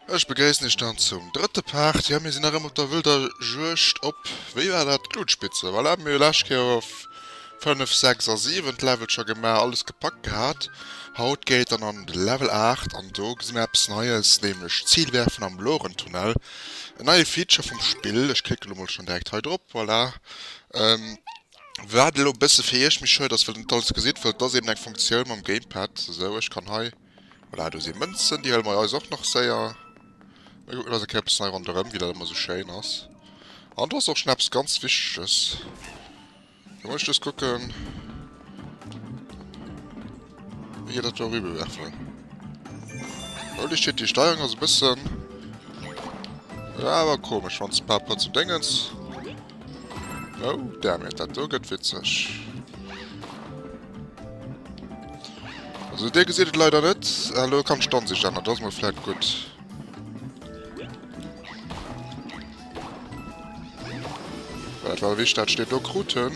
Ech begréissen iech dann zum drëtte Part. Jo, mir sinn nach ëmmer op der wëlder Juegd op, wéi war dat, d'Glutspitze. Voilà, mir hu lescht Kéier op 5, 6 a 7 d'Levelcher gemaach, alles gepackt gehat. Haut geet et dann an de Level 8 an do gesi mir eppes Neies, nämlech d'Ziilwerfen am Lourentunnel. En neie Feature vum Spill, ech klicke lo mol schonn direkt hei drop, voilà. Waat elo e bësse fir iech méi schwéier ass, well der net alles gesidd, well et ass eben eng Funktioun mam Gamepad, esou, ech kann hei, voilà, do si Mënzen, déi hëlle mer eis och nach séier, mir kucken eis eng Kéier e bëssen hei ronderëm, wéi dat ëmmer esou schéin ass. An do ass och schonn eppes ganz Wichteges, da muss ech just kucken. Hier dat do rübe werfen. Holy shit, die Steuerung ass e bëssen... Ja, awer komesch, wann ze par rapport zum Déngens... Oh, damn it, dat do gëtt witzeg. Also, dir gesitt et leider net. Hallo, kann d'Standsich änneren, dat ass mol vläit gutt. Wat war wich dat steet do kruten?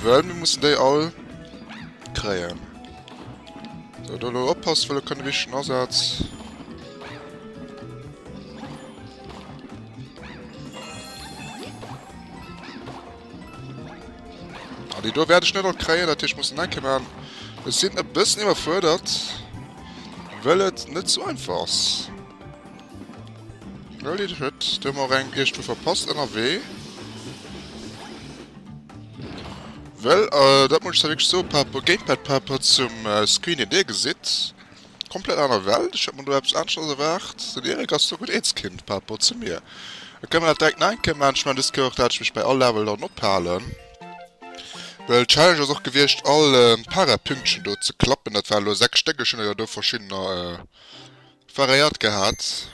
Well mir mussen déi all kréien. So do lo oppass wëlle kënne wichten Asaz. Ah, déi do werde ich net all kréien, dat ich muss enke man. Es sinn e bëssen iwwerfuerdert. Well et net zu einfach ass. Holy shit, do hun mer och eng Iech do verpasst ennerwee. Well dat muss ech da wierklech soen, par rapport Gamepad par rapport zum Screen deen Dir gesitt, komplett aner Welt. Ech hat mer do eppes aneschtes erwaart. Den Eric ass do gutt eens Kind par rapport zu mir. Da kënnen mer dat direkt nach eng Kéier maachen. Ech mengen dës Kéier och dat ech mech bei all Level dann ophalen. Well d'Challenge ass och gewiescht all Para-Pünktchen do ze klappen. Dat waren elo 6 Stéck, ech hunn der jo do verschiddener Variiert gehat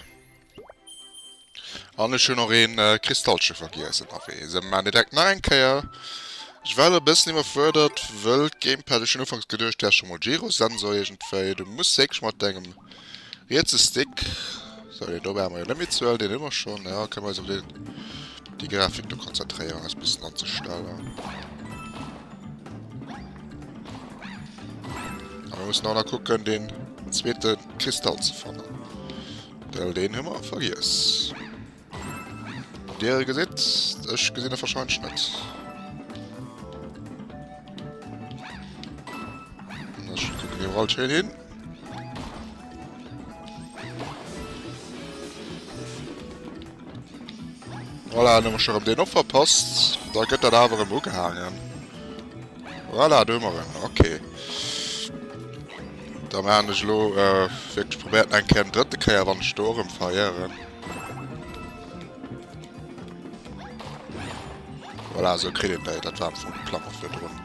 an ech hun och een Kristallchen vergiess ennerwee, esou maan mir direkt nach eng Kéier. Ech war elo e bessen iwwerfuerdert wëll d'Gamepad, ech hun ufanks geduecht wär schon mol Gyrosensor irgendwéi, du muss wierklech mat dengem rietse Stick, sou deen do brauche mer jo net méi ze huelen, deen hu mer schon, jo kënne mer eis op deen déi Grafik do konzentréieren eis bessen anzestellen. A mir mussen och nach kucken deen zweeten. Kristall ze fannen. Well deen hu mer vergiess. Dir e gesitt, ech gesinn e verscheinsch net. Ech kucken iwwerall schéin hin. Voilà, nëmme schon op deen och verpasst. Da gëtt dat awer em ugehaangen. Voilà, do hu mer en. Okay. Dann han ech elo wirklech probert eng Kéier en drëtte Kéier wann ech do och em verirren. Voilà esou kritt een déi, dat war am Fong de Plan och virdrun.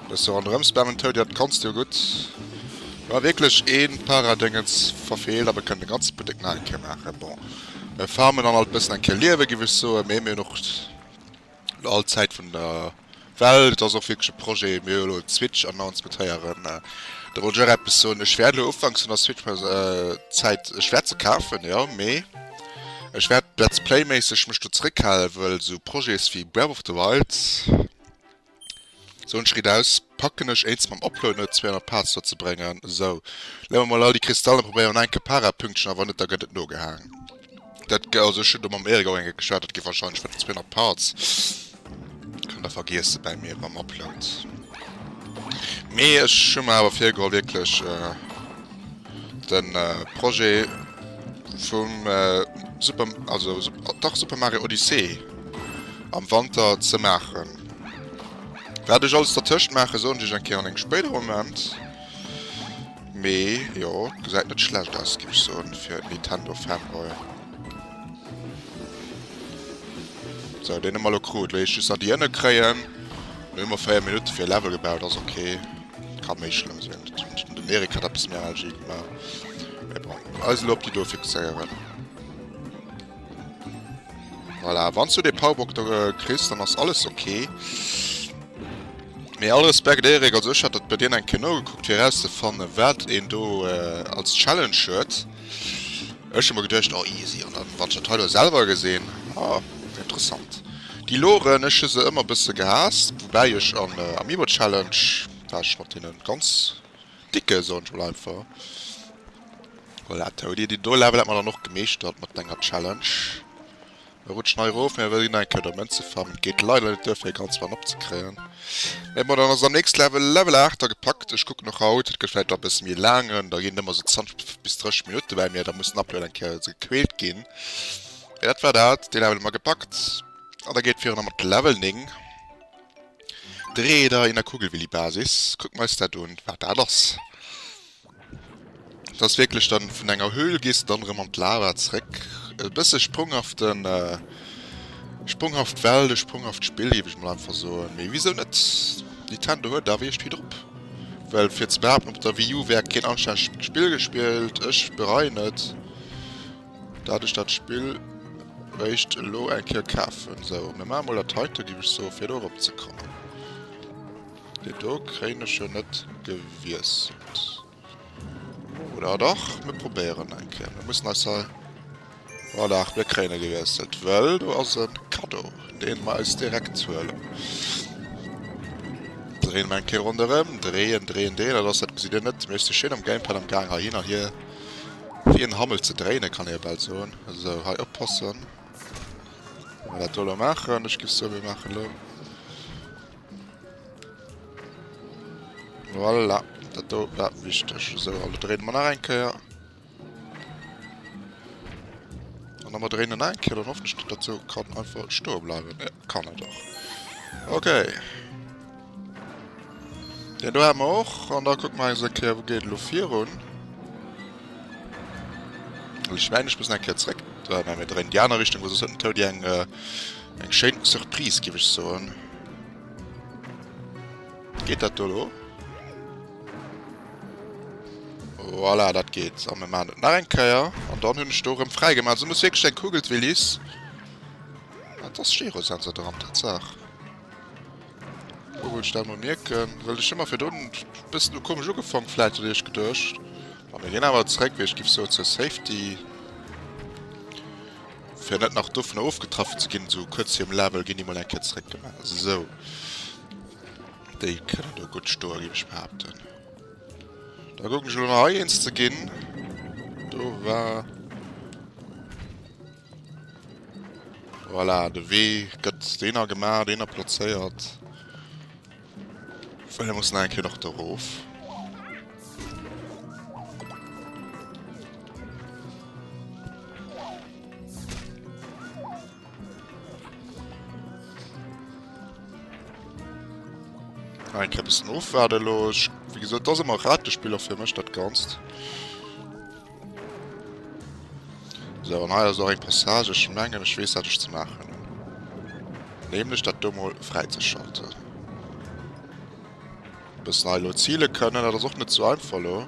Bësse ronderëm spammen Toady, dat kanns du jo gutt. War wirklech een Paradéngens verfeelt, awer kënnen de ganze Buttek nach eng Kéier maachen. Bon mir farmen dann alt bëssen eng Kéier Liewen giff ech soen, mee mir hun och. all Zäit vun der Welt. Et ass och wierklech e Projet, mir hu jo elo en Switch-Announcement héieren. Wéi de Roger eppes soen, ech wäert elo ufanks vun der Switch mech Zäit, ech wäert se kafen, jo, mee ech wäert Let's Play-méisseg mech do zeréckhalen, wëll esou Projets wéi Breath of the Wild, Sou, en Schritt aus, packen ech eens mam Oplueden oder zwee an der Paaz duerzebrengen. Sou, leeë mer mol all déi Kristalle an probéieren enke Parapünktchen a wann net da gett et nogehaang. Dat ge, also ech hun do mam Erik och enke geschwat, dat gi wahrscheinlech vun den zwee an der Paaz. Kann der vergiessen bäi mir mam Oplued. Mee ech hun mer awer virgeholl wierklech den Projet vum Super, also dach Super Mario Odyssee am Wanter ze maachen. Wat ech alles dertëscht maache soen ech iech eng Kéier an engem spéidere Moment. Mee jo, et gesäit net schlecht aus, géif ech soen, fir en Nintendo-Fanboy. Sou, deen hu mer elo krut. Wéi ech just nach déi ënne kréien. Lo hu mer 4 Minutte fir e Level gebaut, ass ok. Ka méi schlëmm sinn. Den Erik hat eppes méi Energie gemaach. Mee bon, eis elo op déi do fixéieren. Voilà, wanns du de Powerbock do kriss, dann ass alles ok. Mee all Respekt Erik, also ech hat dat bei dir eng Kéier nogekuckt fir erauszefannen wat een do als Challenge huet. Ech hu mer geduecht, oh easy, an dann wann ech dat hei elo selwer gesinn, ah interessant. Déi Loren, ech hu se ëmmer e bësse gehaasst, woubäi ech am Amiibo Challenge war ech mat deene ganz. Dicke soen ech mol einfach. Voilà, Toady, deen do Level hat mer dann och gemeeschtert mat denger Challenge. Mir rutschen hei erof, mir wëllen eng Kéier do Mënze farmen. Et geet leider net duer fir e ganz Run opzekréien. Mee bon, dann ass et am nächste Level, Level 8 da gepackt. Ech kucken och haut, et gëtt vläicht nach e bësse méi e laangen, da ginn et ëmmer sou 20 bis 30 Minutte bei mir, da muss den Upload eng Kéier ze gequält ginn. Mee dat war dat, dee Level hu mer gepackt an da geet et virun am mat Level 9. Dreeder in der Kugelwillibasis, kucken mer eis dat un wat dat ass. Dat ass wierklech dann vun enger Höhl gees de dann erëm an d'Lava zréck. E bësse sprunghaften sprunghaft Welt, e sprunghaft Spill géif ech mol einfach soen, mee wisou net? Nintendo huet awer iech vill drop, well fir ze behaapten op der Wii U wär keen anstännegt Spill gespillt, ech bereien et. Dat ech dat Spill réischt elo eng Kéier kafen. Sou, mir maache mol dat heite giff ech soen, fir do erop ze kommen. Deen do kréien ech jo net gewiesselt. Oder ah dach, mir probéieren eng Kéier. Mir mussen eis hei, voilà, mir kréien e gewiesselt, well do ass e Kaddo, deen mer eis direkt huelen. Dréie mer eng Kéier ronderëm, dreeën, dreeën, dreeën, dat ass, dat gesitt Dir net, mee ech si schéin am Gamepad am Gaang heihin an hier. Wéi en Hammel ze dréinen, kann ee jo bal soen. Esou, hei oppassen, wéi mer dat do elo maachen. Ech géif soen, mir maachen elo, voilà, dat do war wichteg. Esou, elo dréine mer nach eng Kéier. An da mer dréinen nach eng Kéier, dann hoffentlech, datt dat sou kann einfach stoe bleiwen. Kann et och. Okay. Den do haben wir och an da kuck mal se Kéier wo geet lo virun. Ich meine, ich muss ein Kéier zréck äh, mir drehen die andere Richtung, wo se sollten Toad eng äh, eng schéin Surprise gebe ich so. Geht dat do lo? Voilà, dat geht. So, wir machen nach ein Kéier und dann hunn ich do rem freigemacht. So muss wirklich ein Kugeltwillis. Wat ass Gyrosensor doran? Tatsaach. Lo wou ech dat mol mierken, well ech hu mer virdrun e bëssen u komesch ugefank vläit oder iech geduecht. A mir ginn awer zréck, wéi ech giff soen, zur Safety, fir net nach dovunner ofgetraff ze ginn. Esou kuerz virum Level ginn déi mol eng Kéier zréck gemaach. Esou. Déi kënnen do gutt stoen, géif ech behaapten. Da kucken ech elo nach hei eens ze ginn. Do war. Voilà, de Wee gëtt deener gemaach, deener plazéiert. Well mir mussen eng Kéier nach do rof. Eng Kéier e bëssen ofwaarde elo. Wéi gesot, et ass ëmmer Ratespill och fir mech dat Ganzt. Sou, an hei ass och eng Passage. Ech mengen, ech weess, wat ech ze maachen hunn. Nämlech dat do emol fräizeschalten. Bis hei elo zile kënnen. Dat ass och net sou einfach elo.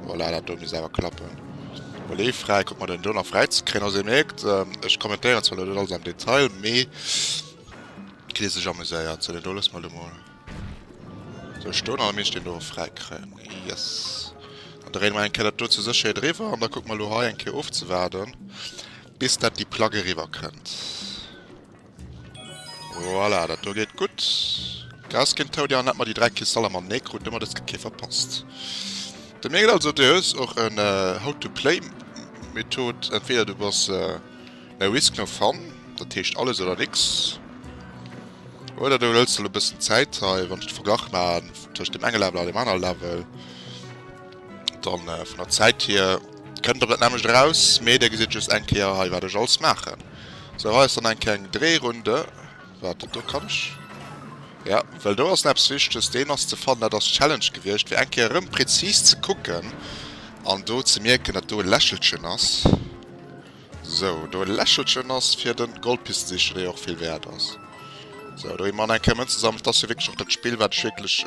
Voilà, dat do misst awer klappen. Volet fräi. Kucke mer, den do nach fräizekriegen. Also, Dir mierkt, ech kommentéieren zwar elo net alles am Detail, mee kritt Dir sech amuséiert. Sou, deen do loosse mer elo mol. So, ech stoen an da misst een do och fräi kréien. Yes. An da réiden mer eng Kéier dat do zur Sécherheet eriwwer an da kucke mer elo hei eng Kéier ofzewaarden, bis dat déi Plack eriwwer kënnt. Voilà, dat do geet gutt. Gras ginn tout. Jo, an dat mer déi dräi Kristaller matenee kruten, huet mer dëst Geck hei verpasst. Dat mengen also, du hues och en How-to-play-Method, entweder du bass. No risk no fun, dat heescht alles oder nix. Oder du hëls der lo bëssen Zäit hei, wann ech de Verglach maachen tëscht dem enge Level a dem anere Level, dann vun der Zäit hier kënnt der dat nämmlecht eraus, mee der gesitt just eng Kéier hei wat ech alles maachen. Sou hei ass dann eng kleng Dréirunde, wat do kann ech, jo well do ass näppes Wichtiges, deen ass ze fannen, dat ass d'Challenge gewiescht fir eng Kéier erëm präzis ze kucken an do ze mierken dat do e Lächelchen ass. Sou, do e Lächelchen ass fir de Goldpisteseecher, dee jo och vill wäert ass. Sou, do hu mer an eng Kéier Mënzen gesammelt. Et ass jo wierklech och dat Spill, wat ech wierklech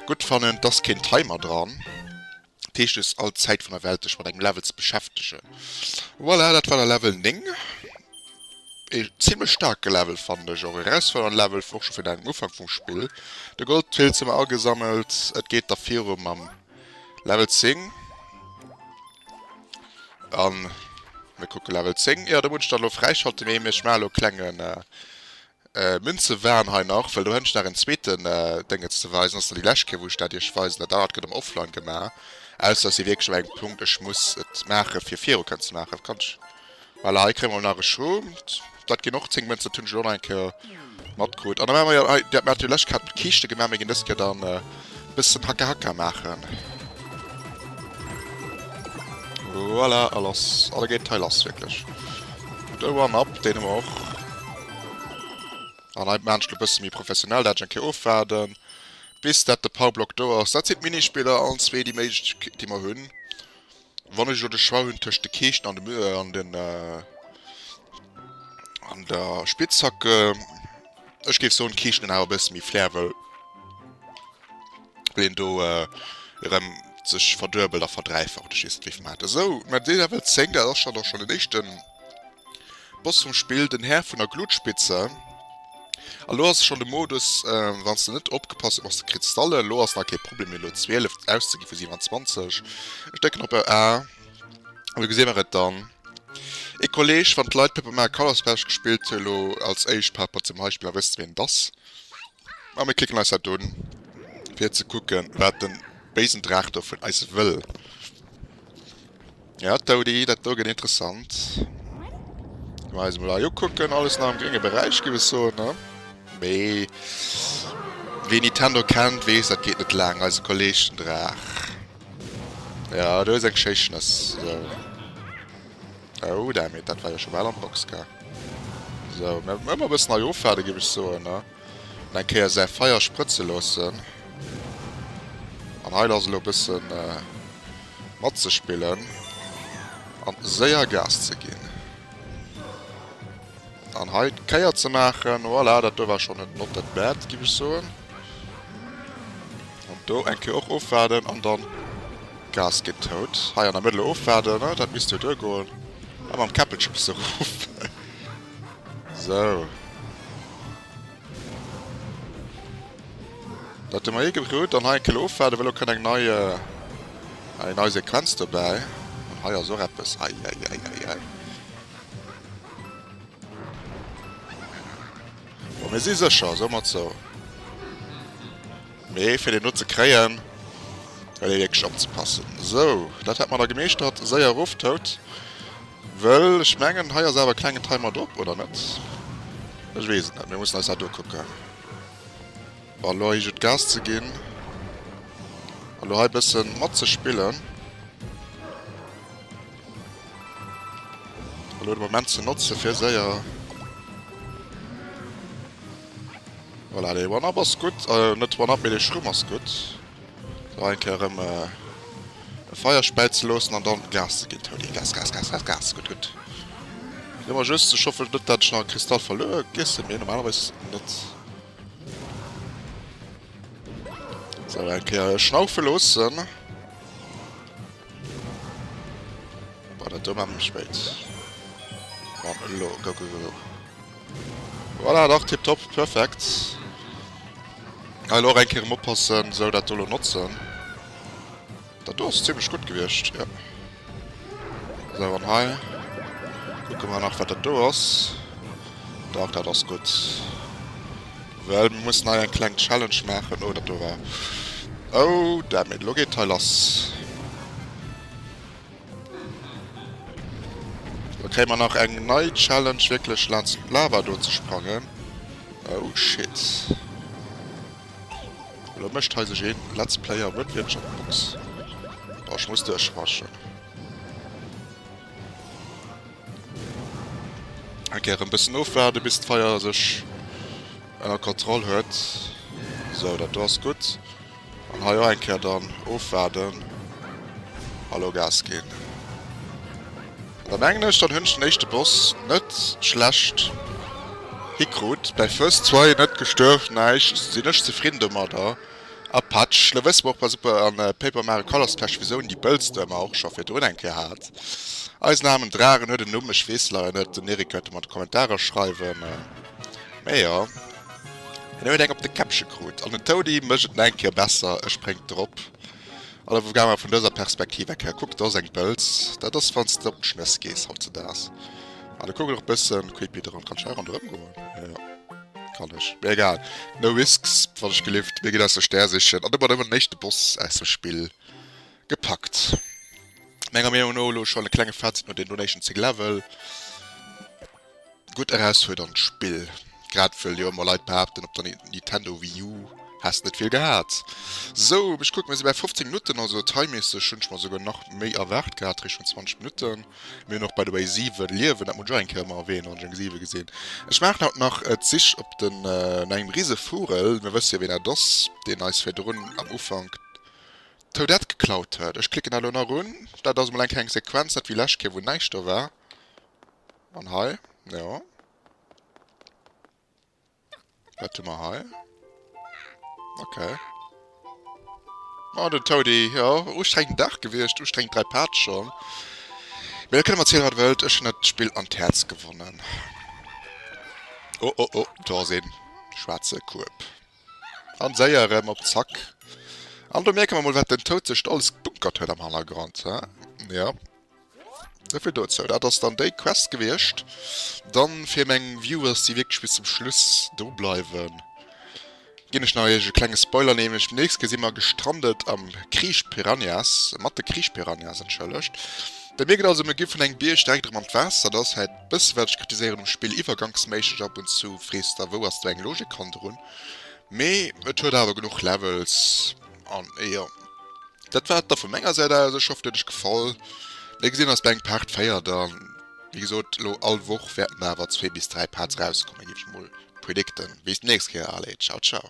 gutt fannen. Et ass keen Timer dran. Dat heescht, du hues all d'Zäit vun der Welt, dech mat engem Level ze beschäftegen. Voilà, dat war da Level 9. E zimlech staarke Level, fannen ech. Och e erausfuerdernden Level, och scho fir den Ufank vum Spill. De Goldpilz hu mer agesammelt. Et geet da viru mam Level 10. An mir kucke Level 10. Jo, do muss ech dann elo fräischalten, mee ech maachen elo e klenge Münzewahn hei nach, well do hätt ech nach en zweete Déngetz ze weisen. Ass dann déi lescht Kéier, wou ech dat iech weisen. Dat anert gëtt am Offline gemaach, ausser et si wierklech op engem Punkt, ech muss et maache fir viru kënnen ze maachen. Kann ech. Voilà, hei kréie mer nach e Schuumt. Dat ginn och 10 Mënzen, dat hunn ech elo nach eng Kéier matkrut. An da maache mer jo hei, dat mir haten jo d'lescht Kéier haten mer d'Kiischte gemaach, mir ginn dës Kéier dann e bëssen Haka Haka maachen. Voilà, a lass. A da geet hei lass, wierklech. Gutt, e One-Up, deen hu mer och. An hei maachen ech et e bësse méi professionell, da hätt ech eng Kéier ofwaarden, bis dat de Powerblock do ass. Dat sinn d'Minispiller, allen zwee déi Méiglechkeet, déi mer hunn. Wann ech elo de Choix hunn tëscht de Keeschen an dem an den an der Spitzhacke, ech géif soen d'Keeschen hunn awer e bësse méi Flair, wëll wëll een do erëm sech verduebelt a verdräifacht. Ech weess net wéi vill mer hat esou, mä deen Level 10, dat ass schonn och schonn den éischten. Boss vum Spill, den Här vun der Glutspitze. A lo ass et schonn de Modus, wann s de net opgepasst huet, ass de kritt Stallen. Lo ass nach kee Problem méi elo 12 ausze gi vu 27. Ech drécken op A an da gesi mer et dann. Ee Kolleeg wann d'Leit Paper Mario Color Splash gespillt hu lo als éischt Paper zum Beispill, da wësst ween et ass. A mir klicken eis dat un fir ze kucken wat de béisen Draach do vun eis wëll. Ja Toady, dat do gëtt interessant. Gi mer eis mol hei ukucken. Alles nach am grénge Beräich géif ech soen, ne? Mee wee Nintendo kennt, weess, dat geet net laang. Eise Kolleg den Draach. Ja, do ass eng schéi Schnëss. Sou. Oh, dammit, dat war jo scho bal an d'Box gaang. Sou, mir ëmmer e bëssen hei ofwaarde géif ech soen, ne? Nach eng Kéier säi Feier sprëtze loossen an hei lass elo e bësse matzespillen an séier Gas ze ginn an hei d'Kéier ze maachen. Voilà, dat do war schonn net not that bad, giff ech soen. An do eng Kéier och ofwaarden an dann Gas ginn. Tout hei an der Mëttel ofwaarden, dat misst jo duergoen a mam Käppelche bësse ruffen. Sou. Dat hu mer ee gedrot. An hei eng Kéier ofwaarden, well elo kënnt eng nei, eng nei Sequenz dobäi. An hei ass och eppes. Eieieiei. Bon, mir si sécher, soe mer et sou. Mee fir deen do ze kréien, well dee wierklech opzepassen. Sou, dat hätt mer da gemeeschtert. Séier erof tout, wëll ech mengen, hei ass awer e klengen Timer drop, oder net? Ech weess et net. Mir mussen eis dat ukucken. Bon, elo hei gutt Gas ze ginn. Elo hei e bësse matzespillen. Elo de Moment ze notzen, fir séier. Voilà, dee One-Up ass gutt. Net d'One-Up, mee dee Schrumm ass gutt. Hei eng Kéier erëm e Feier späit ze loossen an dann Gas ze ginn. Toni, Gas, Gas, Gas, Gas, Gas! Gutt, gutt. Ginn mer just. Ech hoffen net, dat ech nach e Kristall verluer giessen, mee normalerweis net. Sou, eng Kéier schnaufe loossen. Boah, dat do war mir spéit. Bon, elo, go, go, go. Voilà, dach, tiptop, perfekt. Hei elo och eng Kéier erëm oppassen, sou, dat do elo notzen. Dat do ass zimlech gutt gewiescht, jo. Sou, an hei kucke mer nach, wat dat do ass. Dach, dat ass gutt. Well mir mussen hei eng kleng Challenge maachen. Oh, dat do war. Oh, damn it. Elo geet hei lass. Elo kréie mer nach eng nei Challenge, wierklech laanscht d'Lava do ze sprangen. Oh, shit. Elo mécht hei sech een Let's Player Wënwiertschaftsbox. Oh, ech muss duerchraschen. Ok rem bessen ofwaarden bis d'Feier sech enner Kontroll huet. Sou dat do ass gutt an hei och eng Kéier dann ofwaarden a lo Gas ginn. Da mengen ech dann hunn ech den éischte Boss net schlecht hikrut. Bei first try net gestuerft, näischt, sinn ech zefridden domadder. A Patsch, lo wësse mer och bei Super an Paper Mario Colors d'Patsch Versioun, déi Bëlz de mer och scho virdrun eng Kéier hat. Eisen aarmen Dragen huet en Numm, ech weess se leider net, den Eric kënnt e mer an d'Kommentarer schreiwen. Mee jo, hien huet eng op de Käppche krut an den Toady mécht et nach eng Kéier besser, e spréngt drop. Oder wou gaange mer vun dëser Perspektiv eng Kéier kucken, dat ass eng Bëlz, dat ass wann s de op d'Schnëss gees hautzedaags. An e kuckt och e bësse creepy, dran, kann ech hei ronderëm goen? Jo. Kann ech. Mir egal. No risks, wat ech gelift. Mir ginn eis de Stär sichen an domat ëmmer den éischte Boss aus dem Spill gepackt. Menger Meenung no elo schon e klenge Fazit no den Donation 10 Level. Gutt erausfuerdernd Spill, grad wëll jo ëmmer Leit behaapten op der Nintendo Wii U häss net vill gehat. Sou, ech kucken, mir si bäi 15 Minutten, also timemässeg hunn ech mer esouguer nach méi erwaart gehat, Richtung 20 Minutten. Mir hunn och by the way 7 Liewen, dat muss ech och eng Kéier emmer erwähnen, wann ech eng 7 gesinn. Ech maachen haut nach d'Sich op den no engem rise Vugel, mir wësse jo ween dat ass, deen eis virdrun am Ufank d'Toadette geklaut huet. Ech klicken dat elo nach un, dat ass emol eng keng Sequenz, net wéi lescht Kéier wou näischt do war. An hei, jo. Wat hu mer hei? Ok. Oh, den Toady. Jo, ustrengen Dag gewiescht, ustrengen 3 Part schon. Mee da kënnt mer zielen wat der wëllt, ech hunn dat Spill an d'Häerz gewonnen. Oh oh oh, do ass een schwaarze Kueb. An séier erëm op Zack. An do mierke mer mol wat den Toad sech do alles gebunkert huet am Hannergrond, he? Jo. Souvill dozou. Dat ass dann déi Quest gewiescht. Dann, fir meng Viewers, déi wierklech bis zum Schluss do bleiwen, ginn ech nach iech e klenge Spoiler, nämlech beim nächste Gee si mer gestrandet am Kriich Piranhas, mat de Kriich Piranhas, entschëllegt. Bei mir gëtt also mir gi vun engem Bierg direkt erëm an d'Waasser. Dat ass hei d'bësse wat ech kritiséieren um Spill, iwwergangsméisseg ab und zu, frees der wou ass do eng Logik hannerun? Mee et huet awer genuch Levels. An jo, dat war et da vu menger Säit aus. Ech hoff, et huet iech gefall. Wéi gesinn, ass bei eng Part 4 dann, wéi gesot, elo all Woch wäerten da awer zwee bis dräi Parts erauskommen, géif ech mol predicten. Bis d'nächst Kéier, allez, ciao, ciao.